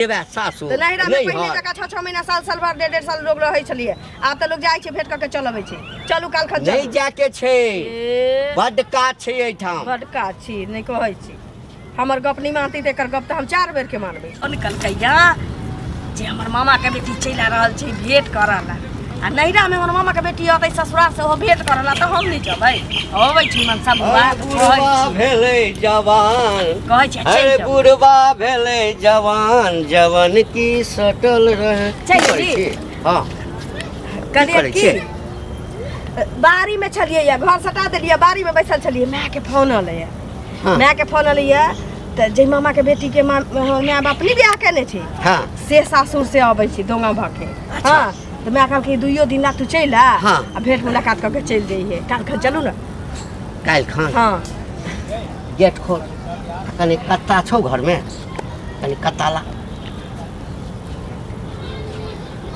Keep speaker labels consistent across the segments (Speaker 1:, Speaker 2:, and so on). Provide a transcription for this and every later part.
Speaker 1: जेबे सासुर तऽ नैहरा मे
Speaker 2: पहिले नैहर जकाँ छओ छओ महीना साल साल भर डेढ़ डेढ़ साल लोग रहै छलियै आब तऽ लोग जाइ छै भेंट कऽ के चल अबै छै चलू काल खन नहि चलू जाके छै ए,
Speaker 1: बड्ड काज छै एहिठाम बड काज छी नहि
Speaker 2: कहै छी हमर गप नहि मानती तऽ एकर गप तऽ हम चार बेर के मानबै निकल कैया जे हमर मामा के बेटी चलि आ रहल छै भेंट करऽ ला आ नैहरा में हमर मामा के बेटी अतै ससुरा से हो भेंट करल त हम नहीं जबै अबै छी मन सब बुआ अरे बुढ़वा
Speaker 1: भेले जवान कहै छी अरे चल
Speaker 2: बुढ़वा
Speaker 1: भेले जवान जवन की सटल रहे चल की करै जी। छी?
Speaker 2: हाँ
Speaker 1: करिए
Speaker 2: करै की छियै? बारी में छलिए या घर सटा देलिए बारी में बैसल छलिए माय के फोन अलै या हाँ। माय के फोन अलै या त जै मामा के बेटी के माँ माय बाप नहीं बियाह केने छी हाँ से सासुर
Speaker 1: से
Speaker 2: अबै छी दोंगा भके अच्छा। हाँ, तो मैं कल के दुइयो दिन ला तू चल आ हाँ। आ भेंट मुलाकात करके चल जाइए काल खा चलू ना काल्हि खान
Speaker 1: हाँ
Speaker 2: गेट
Speaker 1: खोल कनि कत्ता छौ घरमे कनि कत्ता ला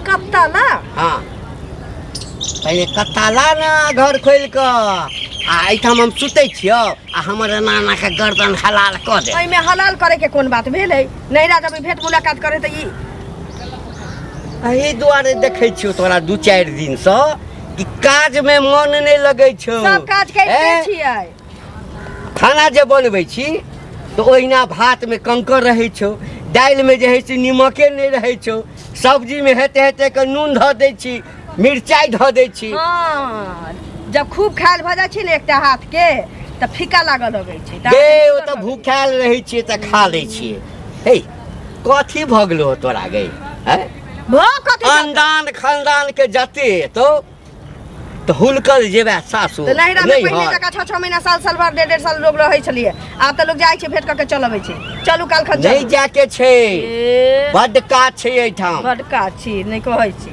Speaker 2: कत्ता ला
Speaker 1: हाँ पहिले कत्ता ला ने घर खोलि कऽ आ एहिठाम हम सुतै छियौ आ हमर एना एनाके गर्दन हलाल कऽ दे एहिमे हलाल करे के कोन
Speaker 2: बात भेलै नैरा जब भेंट मुलाकात करे तऽ ई
Speaker 1: एहि दुआरे देखै छियौ तोरा दू चारि दिनसँ कि काजमे मन नहि लगै छौ सब काज करिते हैं?
Speaker 2: छियै
Speaker 1: खाना जे बनबै छी तऽ ओहिना भातमे कंकर रहै छौ दालिमे जे है से निमके नहि रहै छौ सब्जीमे हेते हेते के नून धऽ दै छी मिरचाइ धऽ दै छी हाँ
Speaker 2: जब खूब खायल भऽ जाइ छै ने एकटा हाथ के तऽ फीका लागल लगै छै गे ओ तऽ
Speaker 1: भूखायल रहै छियै तऽ खा लै छियै हे कथी भऽ गेलो तोरा गई हैं भऽ कथी जाता? खानदान खानदान के जते हेतो तऽ हुलकल जेबे सासुर तऽ नैहरा में पहिले नैहर। जकाँ
Speaker 2: छः छः महीना साल साल भर डेढ़ डेढ़ साल लोग रहै छलियै आब तऽ लोग जाइ छै भेट कऽ के चल अबै छै चलू काल खन नहीं चलू जाके छै ए,
Speaker 1: बड्ड काज छै एहिठाम बड्ड काज छी नहि
Speaker 2: कहै छी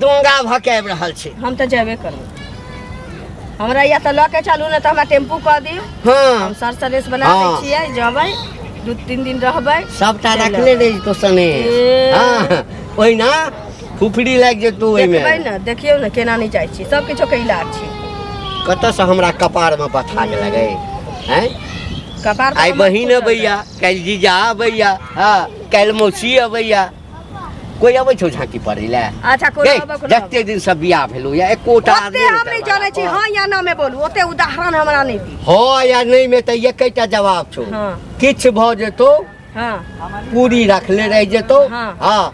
Speaker 1: डोंगा भकाबि रहल छै हम तऽ जेबे
Speaker 2: करब हमरा या तऽ लऽ के चलू ने तऽ हमरा टेम्पू कऽ दियौ हँ हम सर
Speaker 1: सलेस बना
Speaker 2: दै हँ। छियै जेबै दू तीन दिन रहबै सबटा चलि रखले अबै।
Speaker 1: रही तो सने ए। हँ ओहिना फुफड़ी लागि जेतौ ओहिमे देखबै ने देखियौ ने केना
Speaker 2: नहि जाइ छी सब किछो के इलाज छै कतऽसँ
Speaker 1: हमरा कपारमे पथा लगै हैं कपार पर
Speaker 2: आइ हमर बहिन फूटल अबैया
Speaker 1: काल्हि जीजा अबैया हँ काल्हि मौसी अबैया कोई अबै छौ झांकी पड़ै ले अच्छा कोई गै, अबै कोना
Speaker 2: जते दिन से बियाह भेलौ
Speaker 1: या एकोटा ओते आदमी हम नहि जानै
Speaker 2: छी हां या ना में बोलू ओते उदाहरण हमरा नहि दी हां या नहीं में त
Speaker 1: एकैटा जवाब छौ हां किछ भ
Speaker 2: जेतौ
Speaker 1: हां
Speaker 2: पूरी
Speaker 1: रखले रह जेतौ हाँ।
Speaker 2: हां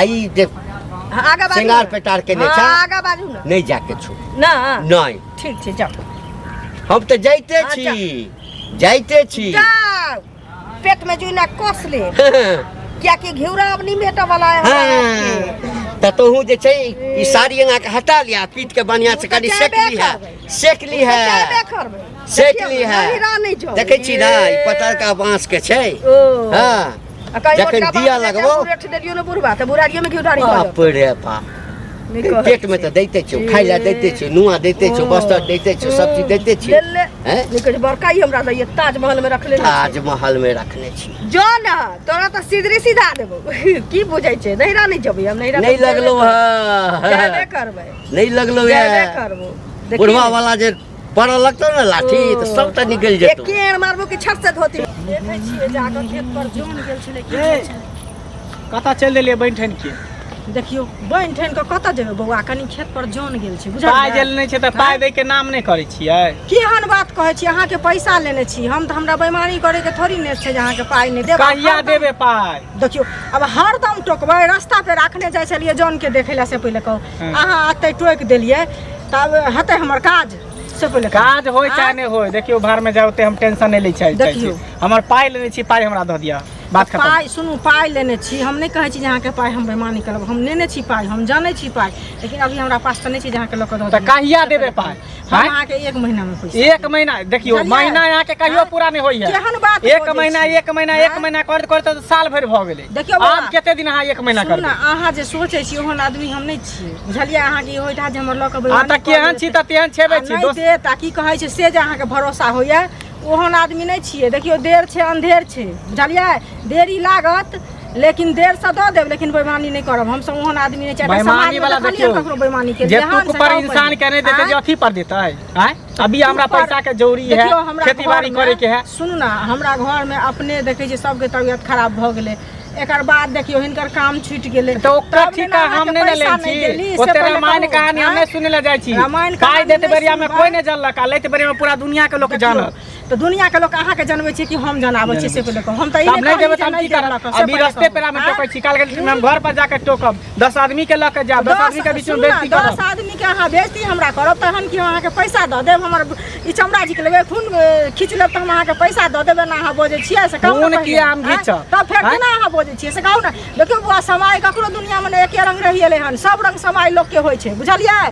Speaker 2: आई जे
Speaker 1: हाँ, आगा बाजू
Speaker 2: सिंगार ना। पेटार केने हाँ, छा।
Speaker 1: आगा बाजू ना नहीं
Speaker 2: जाके छौ
Speaker 1: ना नहीं
Speaker 2: ठीक
Speaker 1: छै जाओ
Speaker 2: हम त
Speaker 1: जाइते हाँ, छी जाइते छी जाओ
Speaker 2: पेट में जुना कस ले क्या कि घिउरा अब नहीं मेटा वाला है हाँ। तो तोहू
Speaker 1: जे छै ई साड़ी अंगा के हटा लिया पीट के बढ़िया से कनी सेक ली है सेक ली है सेक ली है देखे छी ना ई पतर का बांस के छै हां जखन दिया लगबो बुढ़ा
Speaker 2: बुढ़ारियो में घिउरा बाप रे बाप
Speaker 1: पेट में तो देते छो खाय ला देते छो नुआ देते छो बस्तर देते छो सब चीज देते छो हैं निकट बड़का ही हमरा
Speaker 2: लिए ताजमहल में रखले ताजमहल में रखने
Speaker 1: छी जो ना तोरा
Speaker 2: तो सीधरी सीधा देबो की बुझै छे नहीं रानी जबे हम नहीं रानी नहीं लगलो हां नहीं
Speaker 1: करबे
Speaker 2: नहीं लगलो यार
Speaker 1: करबो
Speaker 2: बुढ़वा वाला जे
Speaker 1: बड़ा लगतो ना लाठी तो सब तो निकल एक जतो केर मारबो कि छट से धोती
Speaker 2: देखै छियै जाके खेत पर जोन गेल छलै कि ए, कतऽ
Speaker 3: चलि देलियै बनि ठनि के देखियो
Speaker 2: बनि ठन के कतऽ जेबै बौआ कनी खेत पर जोन गेल छै बुझल पाइ जे लेने छै तऽ पाइ
Speaker 3: दै के नाम नहि करै छियै केहन बात कहै
Speaker 2: छी अहाँके पैसा लेने छी हम तऽ हमरा बेमारी करे के थोड़ी ने छै जे अहाँके पाइ नहि देब कहिया हरदम- देबै पाइ
Speaker 3: देखियो अब
Speaker 2: हरदम टोकबै रास्ता पे राखने जाइ छलियै जौन के देखै लए से पहिले कहू अहाँ एते टोकि देलियै तब हेतै हमर काज से पहिले काज होय चाहे नहि
Speaker 3: होय देखियौ बाहरमे जाए ओते हम टेंशन नहि लै चाहै चाहै छी देखियौ। हमर पाइ लेने छी पाइ हमरा दऽ दिअ बात खतम पाइ सुनू पाइ लेने
Speaker 2: छी हम नहि कहै छी जे अहाँके पाइ हम बेमानी करब हम लेने छी पाइ हम जानै छी पाइ लेकिन अभी हमरा पास तऽ नहि छै जे अहाँके लऽ कऽ दऽ तऽ दिअ। कहिया देबै पाइ
Speaker 3: हम आँय? अहाँके एक
Speaker 2: महीना में पैसा एक महीना देखियो चलिए।
Speaker 3: महीना यहाँ के कहियो आँय? पूरा नहीं होइए केहन बात एक बजै महीना
Speaker 2: छी? एक महीना
Speaker 3: एक आँय? महीना करते करते तो साल भर भ गेले देखियौ बाबा। आब कते दिन अहाँ
Speaker 2: एक
Speaker 3: महीना सुनू करबे ने अहाँ जे सोचै
Speaker 2: छी ओहन आदमी हम नहि छी बुझलियै अहाँ के होइठा जे हमर लऽ कऽ आ बैवानी तऽ कऽ केहन लेत। छी तऽ तेहन
Speaker 3: आ छेबे छी नहि दोस्त देत आ की कहै
Speaker 2: छै
Speaker 3: से
Speaker 2: जे अहाँके भरोसा होइए ओहन आदमी नहि छियै देखियौ देर छै अन्धेर छै बुझलियै देरी लागत लेकिन देर से दऽ देब लेकिन बेईमानी नहि करब हम सब ओहन आदमी नहि चाहे बेईमानी वाला देखियो ककरो
Speaker 3: बेईमानी के जे तू
Speaker 2: पर इंसान
Speaker 3: के नहि देते जे अथी पर देते हैं अभी हमरा पैसा के जरूरी है खेती बाड़ी करे के है सुनू ना हमरा घर
Speaker 2: में अपने देखे जे सबके तबियत खराब भ गेले एकर बाद देखियो हिनकर काम छूट गेले तो ओकर ठीक है
Speaker 3: हम ने ले छी ओते रामायण कहानी हम ने सुने ले जाय छी रामायण कहानी देते बेरिया में कोई ने जानलक आ लेते बेरिया में पूरा दुनिया के लोग जानल तो दुनिया के लोग
Speaker 2: अहाँ के जानवे छी कि हम जनावे छी से पहिले हम त ई नहीं देबे त हम की करब
Speaker 3: अभी रास्ते पे हम टोकै छी काल के हम घर पर जाके टोकब 10 आदमी के ल के जाब 10 आदमी के बीच में बेइज्जती करब 10 आदमी के अहाँ बेइज्जती
Speaker 2: हमरा करब त हम कि अहाँ के पैसा द देब हमर ई चमड़ा जी के लेबे खून खींच लेब त हम अहाँ के पैसा द देबे ना अहाँ बोजे छियै से कहू खून की हम खींच
Speaker 3: त फेर केना अहाँ बोजे
Speaker 2: छियै से कहू ना देखियो बुआ समय ककरो दुनिया में एक रंग रहिए हन सब रंग समय लोग के होय छै बुझलियै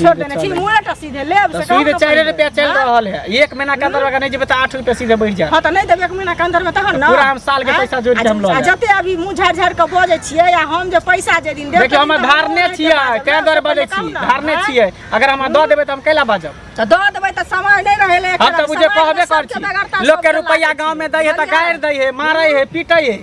Speaker 2: छोड़ देने छी मुंह ना टसी दे लेब तो से सुई दे काम चार कर रुपया चल हाँ?
Speaker 3: रहल है एक महीना के अंदर अगर नहीं जेबे तो आठ रुपया सीधे बढ़ जाए हाँ तो नहीं देबे एक महीना के अंदर
Speaker 2: में तहन ना पूरा हम साल के हाँ? पैसा जोड़
Speaker 3: के हम लऽ आ लेब। जते अभी मुंह झाड़ झाड़ के
Speaker 2: बजे छियै या हम जे पैसा जे दिन देब देखियो हम धारने
Speaker 3: छियै कै दर बजे छी धारने छियै अगर हम दऽ देबै तऽ हम कैला बाजब तो दो देबै तऽ
Speaker 2: समय नहीं रहले हम तऽ बुझे कहबे
Speaker 3: कर छी लोग के रुपैया गांव में दै है तऽ गाड़ि दै है मारै है पीटै है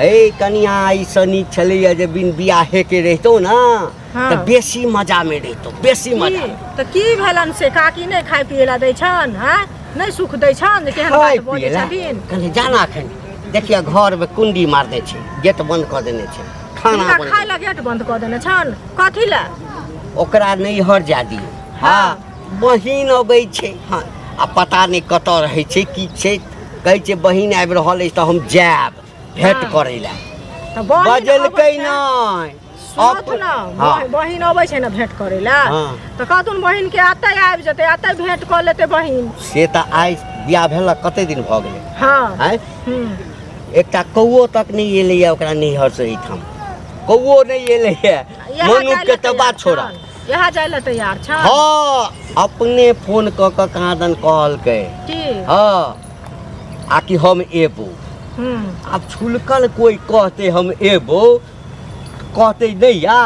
Speaker 1: हे कनिया ई से नीक छलैया जे बिन बियाहे के रहितो ना हाँ। तऽ बेसी
Speaker 2: मजा
Speaker 1: में रहितो बेसी मजा की? में। तऽ की भेलन
Speaker 2: से काकी नहि खाय पिए ला दै छन हैं नहि सुख दै छन जे केहन खाय बात बजै पियला छथिन
Speaker 1: कनि
Speaker 2: जाना अखन
Speaker 1: देखिया घर में कुंडी मार दै छै गेट बंद कऽ देने छै खाना हिनका बनबै खाय ला गेट बंद
Speaker 2: कऽ देने छन कथी ला ओकरा
Speaker 1: नैहर जा दियौ हँ बहिन अबै छै हँ आ पता नहि कतऽ रहै छै की छै कहै छै बहिन आबि रहल अछि तऽ हम जायब भेंट हँ। करै लए तऽ बहिन बजलकै
Speaker 2: अबै छै।
Speaker 1: नहि सुनत अप- ने हँ।
Speaker 2: बहि- बहिन अबै छै ने भेंट करै लए हँ। तऽ कहथुन
Speaker 1: बहिन के
Speaker 2: एतै आबि जेतै एतै भेंट कऽ लेतै बहिन से तऽ आइ
Speaker 1: बियाह भेला कते दिन भऽ गेलै हँ आँय
Speaker 2: हूँ।
Speaker 1: एकटा कौओ तक नहि एलैए ओकरा नैहरसँ एहिठाम कौओ नहि एलैए इएह मनुख के काल्हि तऽ बात एतै छोड़ा आयल। यहाँ जाए ला तैयार
Speaker 2: छा हाँ
Speaker 1: अपने फोन कऽ कऽ कहाँ दन कहलकै की हाँ आ कि हम एबो हम्म, आब छुलकल कोई कहते हम एबो कहते नहीं या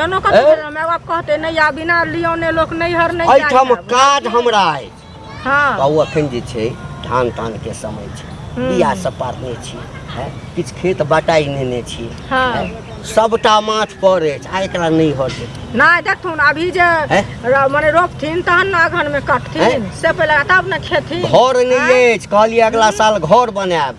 Speaker 1: एनो कथी ए? भेल
Speaker 2: हमरा बाप कहते नहीं आ बिना लियोने लोक नहीं हर नहीं जाए एहिठाम आब। काज हमरा
Speaker 1: अछि हँ बाबू
Speaker 2: अखन जे छै
Speaker 1: धान तान के समय छै हम्म। बिया सब पारने छी हैं? किछु खेत बटाइ नेने छी हँ। हैं?
Speaker 2: सबटा
Speaker 1: माथ पर अछि आ एकरा नहि हर देतै नहि देखथुन
Speaker 2: अभी जे हैं? र- मने रोपथिन तहन ने अगहन में कटथिन हैं? से पहिले तब ने खेथिन घर नहि अछि
Speaker 1: कहलियै अगला साल घर बनायब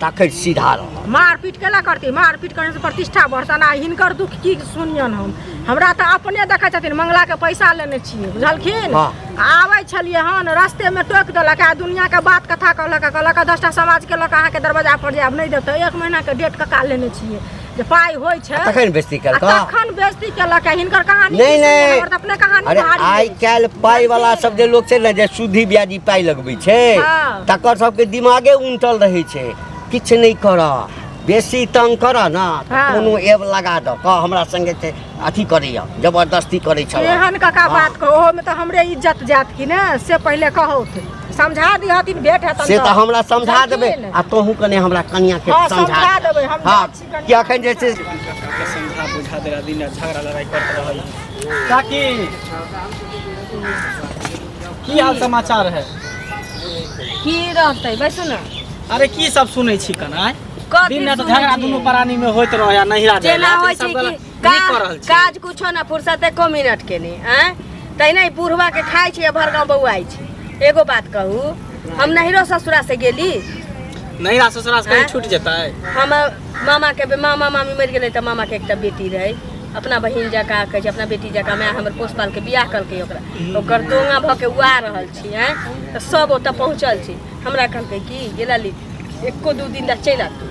Speaker 1: ताकत सीधा रह मारपीट केना करती
Speaker 2: मारपीट करने से प्रतिष्ठा बढ़तन आ हिनकर दुख की सुनियन हम हमरा तऽ अपने देखै छथिन मंगला के पैसा लेने छियै बुझलखिन हाँ। आबै छलियै हन रस्ते में टोक देलक आ दुनिया के बात कथा कहलक कहलक दसटा समाज के लऽ कऽ अहाँके दरवाजा पर जायब नहि देब तऽ एक महीना के डेट कका लेने छियै जे पाइ होइ छै तखन बेस्ती आ केलका
Speaker 1: तखन बेइज्जती केलक
Speaker 2: है हिनकर कहानी नहि, की सुनियै, नहि। हमर तऽ अपने
Speaker 1: कहानी अरे
Speaker 2: भारी आइ अछि। काल्हि
Speaker 1: पाइ वाला सब जे लोक छै ने जे सूदी ब्याजी पाइ लगबै छै हँ। तकर सबके दिमागे उनटल रहै छै किछु नहि करऽ बेसी तंग करऽ ने तऽ हँ। कोनो एब लगा दऽ कह हमरा संगे छै अथी करैया जबरदस्ती करै
Speaker 2: छल एहन कका
Speaker 1: हाँ।
Speaker 2: बात कहो ओहो में तो हमरे
Speaker 1: इज्जत
Speaker 2: जात की ने से पहले कहो थे समझा दी हथिन भेट है से तो हमरा समझा
Speaker 1: देबे आ तोहू कने हमरा कनिया के हाँ, समझा देबे हम हां
Speaker 2: कि अखन जे
Speaker 1: से समझा बुझा
Speaker 3: देला दिन झगड़ा लड़ाई करत रहल काकी की हाल समाचार है
Speaker 2: की रहते बैसू ना अरे की सब
Speaker 3: सुनै छी कना कथी दिन रात सुनै झगड़ा छियै? दुनू प्राणी में होइत रहे आ नहिरा जाए जेना होइ छै कि
Speaker 2: का- करल छी काज कुछो ना फुर्सत एको मिनट के नहीं आय तहिना ई बुढ़वा के खाइ छी आ भर गाँव बौआइ छी एगो बात कहू हम नहिरो ससुरा से गेली नहिरा
Speaker 3: ससुरा से कहीं आँय? छूट जेतै हम
Speaker 2: मामा के बे- मामा मामी मरि गेलै तऽ मामा के एकटा बेटी रहै अपना बहिन जकाँ कहै छै अपना बेटी जकाँ माय हमर पोस पाल के बियाह कलकै ओकरा ओकर दोंगा भऽ के उआ रहल छी हैं तऽ सब ओतऽ पहुँचल छी हमरा कहलकै कि गेला ली एको दू दिन तक चलि आबू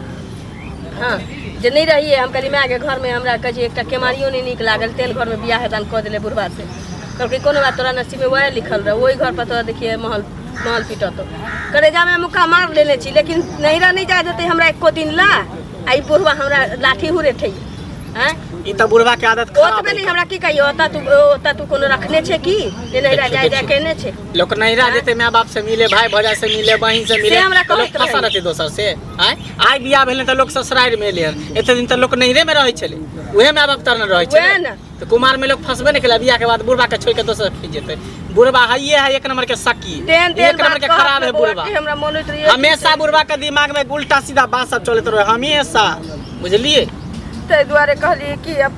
Speaker 2: हँ जे नहि रहियै हम कहलियै मायके घरमे हमरा कहै छै एकटा केमारियो नहि नीक लागल तेल घरमे बियाह हेतन कऽ देले बुढ़वा से कहलकै कोनो बात तोरा नसीबे वएह लिखल रह ओहि घर पर तोरा देखिए महल महल पीटत करेजामे मुक्का मार लेने छी लेकिन नैहरा नहि जाए देतै हमरा एको दिन ला आ ई बुढ़वा हमरा लाठी हुरे ठै हैं ई तऽ बुढ़वा के
Speaker 3: आदत ओ तऽ खराब है। भेलै हमरा की कहियो ओतऽ
Speaker 2: तू ओतऽ तू कोनो रखने छै की जे नैहरा जाए जाए केने छै लोक नैहरा जेतै
Speaker 3: माय बाप से मिले भाय भौजा से मिले बहिन से मिले से हमरा तऽ लोक कहैत फंसा रहै। रहतै दोसर से आय आइ बियाह भेलै तऽ लोक ससुरारि मे एलै हन एते दिन तऽ लोक नैहरे मे रहै छलै उहे माय बाप तरने रहै उहे छलै ने। तऽ कुमार मे लोक फंसबे नहि केलै बियाह के बाद बुढ़बा के छोड़ के दोसर खींच जेतै बुढ़बा हइये है एक नंबर के सकी तेहन एक तेहन नंबर बात के कहत खराब ने है बौआ बुढ़बा कि हमरा मन होइत रहैए हमेशा बुढ़बा के दिमाग में उल्टा सीधा बात सब चलत रहे हमेशा बुझलिए ताहि दुआरे
Speaker 2: कहलियै कि अब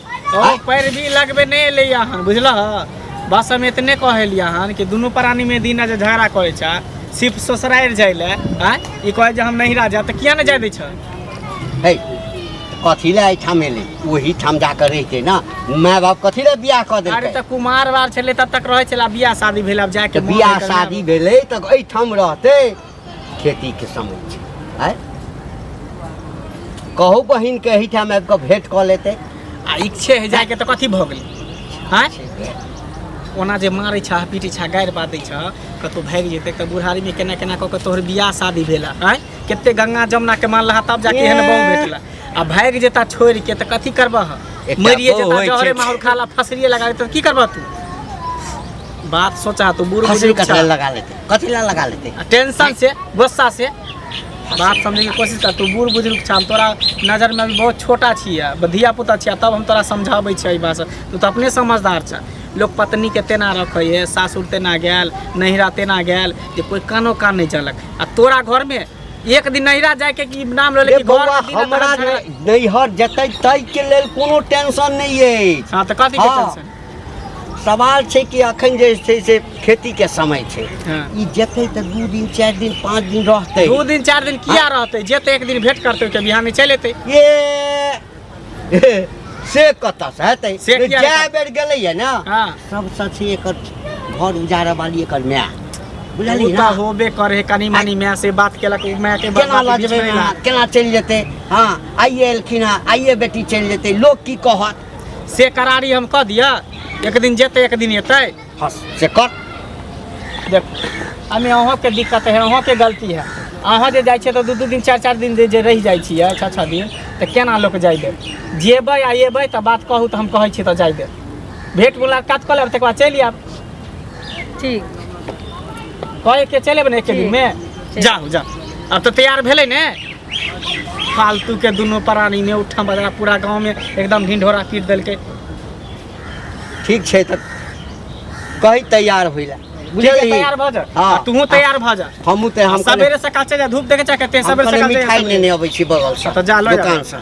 Speaker 1: ओ पैरवी
Speaker 3: लगबे नहि एलै अहाँ बुझलह बस हम एतने कहलियै अहाँ कि दुनू प्राणीमे दिना जे झगड़ा करै छ सिर्फ ससुरारि जाइ लए आँय ई कहै जे हम नहिरा जायब तऽ किया नहि जाय दै छ है
Speaker 1: कथी लए एहिठाम एलै ओही ठाम जा कऽ रहितै ने माय बाप कथी लए बियाह कऽ अरे देलकै तऽ कुमार बार
Speaker 3: छलै तब तक रहै छलै आब बियाह शादी भेल आब जाके तऽ मोन बियाह होइत रहै। शादी भेलै
Speaker 1: तऽ एहिठाम रहतै खेती के समय छै आय कहू बहिन के एहिठाम आबि कऽ भेंट कऽ लेतै आ इच्छे है
Speaker 3: जाके तऽ कथी भऽ गेलै आँय छै भेंट। ओना जे मारै छह पीटै छह गारि बादै छह कतहु भागि जेतै तऽ बुढ़ारीमे केना केना कऽ कऽ तोहर बियाह शादी भेला आँय कते गंगा जमुना के मानलहा तब जाके एहन बाँव भेटला आ भागि जेता छोड़ि के तऽ कथी करबह एकटा मरिए बहू जेता होइ जहरे छै। माहौल खाला फसरिए लगा देतै तऽ की करबह तू बात सोचा तू बूढ़ फसल बुजुर्ग कटल छह। लगा लेतै कथी
Speaker 1: ला लगा लेते आ टेंशन से
Speaker 3: गुस्सा से बात समझे के कोशिश कर तू बूढ़ बुजुर्ग छा हम तोरा नजर में अभी बहुत छोटा छियै ब- धिया पुता छियै तब हम तोरा समझाबै छियै ई बात सब। तू तऽ अपने समझदार छ लोक पत्नी के तेना रखै है सासुर तेना गेल नैहरा तेना गेल जे कोई कानो कान नहीं चलक आ तोरा घर में एक दिन नैहरा जाए के की नाम रहले रे कि घर बौआ के दिन
Speaker 1: हमरा तोरा झगड़ा- नैहर जेतै ताहि के लेल कोनो टेंशन नहि अछि हाँ तऽ कथी के हाँ। टेंशन
Speaker 3: सवाल
Speaker 1: छै कि अखन जे छै से खेती के समय छै हाँ। ई जेतै
Speaker 3: तऽ दू
Speaker 1: दिन चारि दिन पाँच दिन रहतै दू दिन चारि दिन किया
Speaker 3: रहतै जेतै एक दिन भेंट करतै तऽ बिहाने चलि एतै ये
Speaker 1: से कतऽसँ हेतै से किया जए हेतै? बेर गेलैए ने हाँ। सबसँ
Speaker 3: छै एकर
Speaker 1: घर उजाड़ऽ वाली एकर माय ओ बुझलियै तऽ ना? होबे करे है कनी
Speaker 3: मनी माय से बात केलक उ माय के केना बात लऽ बीच जेबै में अहाँ?
Speaker 1: केना चलि जेतै हँ आइए एलखिन हँ आइए बेटी चलि जेतै लोक की कहत से करारी
Speaker 3: हम कऽ दिअ एक दिन जेतै एक दिन एतै हँ से कर
Speaker 1: देख
Speaker 3: एहिमे अहाँके दिक्कत है अहाँके गलती है अहाँ जे जाइ छियै तऽ दू दू दिन चारि चारि दिन जे- जे रहि जाइ छियै छः छः दिन तऽ केना लोक जाय देब जेबै आ एबै तऽ बात कहू तऽ हम कहै छी तऽ जाय देब भेट मुलाकात कऽ लेब तकर बाद चलि आयब ठीक कहै के चलि एबै ने एके दिनमे जाउ जाउ आब तऽ तैयार भेलै ने फालतू के दोनों प्राणी में उठा बजा पूरा गांव में एकदम ढिंढोरा पीट देलके
Speaker 1: ठीक छै तऽ कही तैयार होइ लए ठीक है, तैयार भ
Speaker 3: जा हाँ। आ तूहू तैयार भ
Speaker 1: जा
Speaker 3: हमहूँ तऽ हम कने- सवेरे सकाल चल
Speaker 1: जा
Speaker 3: धूप देखे चाहे
Speaker 1: कते
Speaker 3: हम सवेरे कने सकाल चल जा
Speaker 1: मिठाइ
Speaker 3: सवेरे। लेने
Speaker 1: अबै
Speaker 3: छी बगलसँ
Speaker 1: हाँ,
Speaker 3: तऽ जा
Speaker 1: लऽ
Speaker 3: जा।
Speaker 1: दोकानसँ